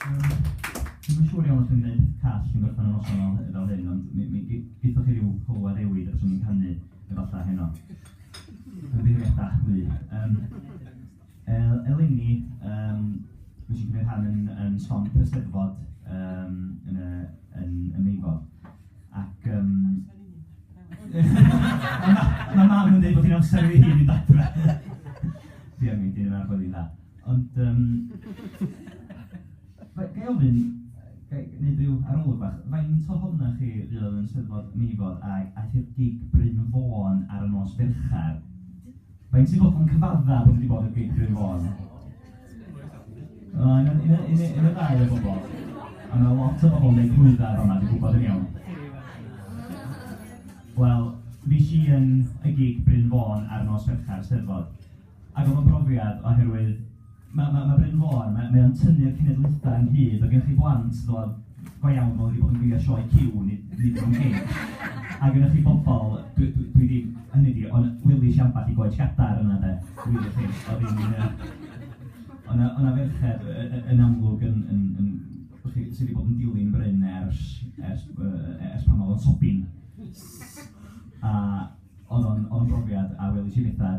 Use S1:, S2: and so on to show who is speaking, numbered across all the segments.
S1: Dwi'n yn siŵr iawn os dwi'n gwneud peth call yn gorffen y noson fel hy- fel hyn, ond mi mi g- geithoch chi ryw hwyl a rewyd os o'n i'n canu efallai heno. Ymddiheuriada, dwi. Yym el- eleni yym fues i'n cymryd rhan yn yn stomp y Steddfod yym yn y yn yn Meifod. ac yym... Mae mam yn dweud bod hi'n amser i hi fynd adre! Diolch i ti, mae'n chwarae'n dda. Ond yym... Ga i ofyn, ga i wneud ryw arolwg bach, faint ohonoch chi fuodd yn Eisteddfod Meifod ac aeth i'r gig Bryn Fôn ar nos Fercher? Faint sy'n bod yn cyfadda bod wedi bod yn Geibion Fôn? Yn y, yn y, yn y, yn y ddau o bobl. A mae lot o bobl yn gwneud hwydda fama, dwi'n gwybod yn iawn. Wel, fi si yn y gig Bryn Fôn ar nos Fercher, Steddfod. Ac oedd o'n brofiad oherwydd Mae, mae, mae Bryn Mor, mae, mae o'n tynnu'r cenedlaethau ynghyd, mae gennych chi blant, ddod, go iawn, fel wedi bod yn gwylio sioe Q, nid, nid yn gig. A gennych chi bobl, dwi, dwi, dwi ddim, hynny di, ond wylus i ambell i goed gadar yna, de, wylio chi, oedd hi'n... O'na, o'na ferched yn amlwg yn, yn, yn, yn chi, sydd wedi bod yn dilyn Bryn ers, ers, ers pan oedd o'n sobin. A oedd o'n brofiad a welis i bethau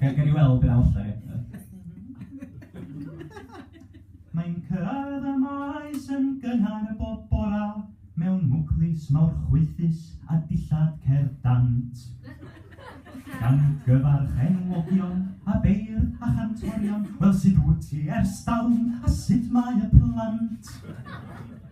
S1: Gael gael i weld beth allai eto. Mae'n cyrraedd y maes yn gynnar y bob bora mewn mwclis mawr chwythus a dillad cerdd dant. Gan gyfarch enwogion a beir a chantorion, wel sut wyt ti ers dalwm a sut mae y plant?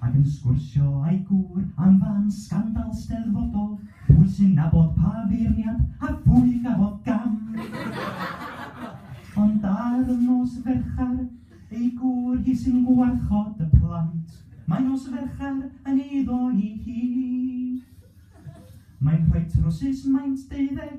S1: ac yn sgwrsio â'i gŵr am fân sgandal 'Steddfodol, pwy sy'n nabod pa feirniad a phwy gafodd gam! Ond ar y nos ferchar, ei gŵr hi sy'n gwarchod y plant, mae nos ferchar yn eiddo i hi. Mae'n rhoi trwsus maint deuddeg,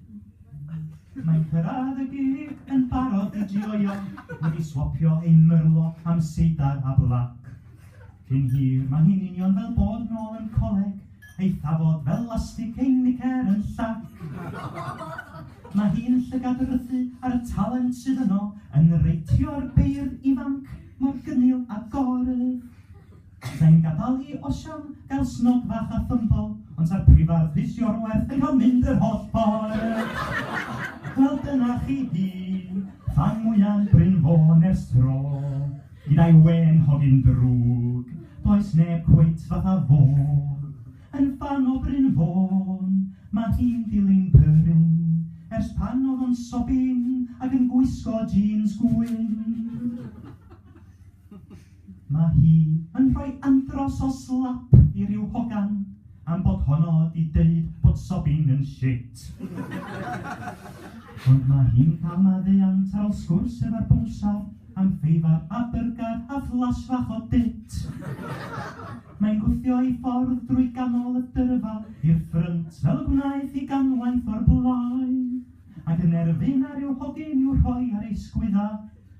S1: Mae cyrraedd y gig yn barod i joio, wedi swopio ei myrlo am seidar a blac. Cyn hir mae hi'n union fel bod nôl yn coleg, ei thafod fel lastig ei nicer yn llac. Mae hi'n llygad rythu ar y talent sydd yno yn reitio'r beirdd ifanc mor gynnil a gorf. Alla i'm gadael hi, osian, gael snog fach a thymbo, ond ta'r prifardd Rhys Iorwerth yn cael mynd yr holl ffordd! Wel dyna chi hi, fan mwyaf Bryn Fôn ers tro, gyda'i wên hogyn drwg, does neb cweit fatha fo. Yn fan o Bryn Fôn, mae hi'n dilyn pyryn, ers pan oedd o'n sobin ac yn gwisgo jîns gwyn. Mae hi yn rhoi andros o slap i ryw hogan am bod honno 'di deud bod sobbing yn shit. Ond mae hi'n cael maddeuant ar ol sgwrs efo'r bownsar am feifar a byrgar a flash fach o dit. Mae'n gwthio ei ffordd drwy ganol y dyrfa i'r ffrynt fel y gwnaeth hi ganwaith o'r blaen, ac yn erfyn ar ryw hogyn i'w rhoi ar ei sgwydda.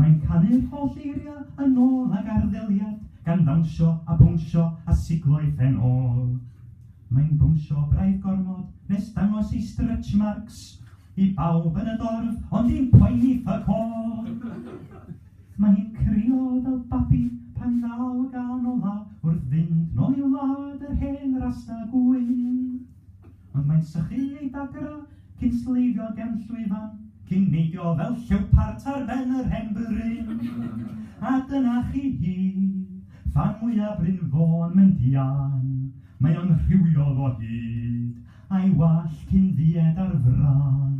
S1: Mae'n canu'r holl eiriau yn ôl ag arddeliad, gan ddawnsio a bownsio a siglo ei phen ôl. Mae'n bownsio braidd gormod nes dangos ei stretch marks i bawb yn y dorf, ond dim poeni fuck all! Mae hi'n crio fel babi pan ddaw y gân ola wrth fynd nôl i wlad yr hen rasta gwyn. Ond mae'n sychu ei dagera cyn sleifio gefn llwyfan, cyn neidio fel llewpart ar ben yr hen bryn. A dyna chi hi, fan mwyaf Bryn Fôn yn dian. Mae o'n rhywiol o hyd, a'i wallt hi'n ddied ar fran.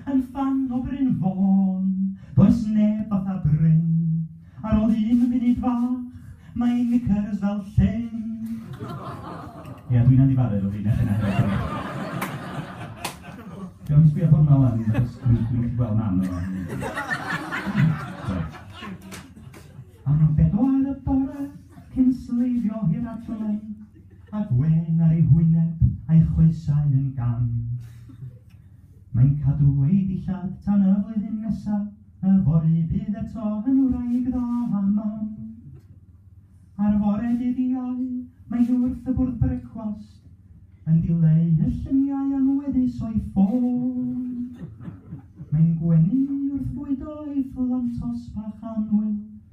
S1: Yn ffan o Bryn Fôn, does neb fatha Bryn. Ar ol un munud fach, mae ei knickers fel llyn. Ia, dwi'n anifaru efo fi, neu chi'n Gawn ni sbio hwnna lan, achos dwi'n gallu gweld mam efo. Am bedwar y bore, cyn sleifio hir adlen, a gwen ar ei hwyneb a'i choesau yn gam. Mae'n cadw ei dillad tan y flwyddyn nesaf. Yfory bydd eto yn wraig dda a mam. Ar fore dydd Iau, mae hi wrth y bwrdd brecwast, yn dileu y lluniau anweddus o'i ffôn. Mae'n gwenu wrth fwydo ei phlantos bach annwyl,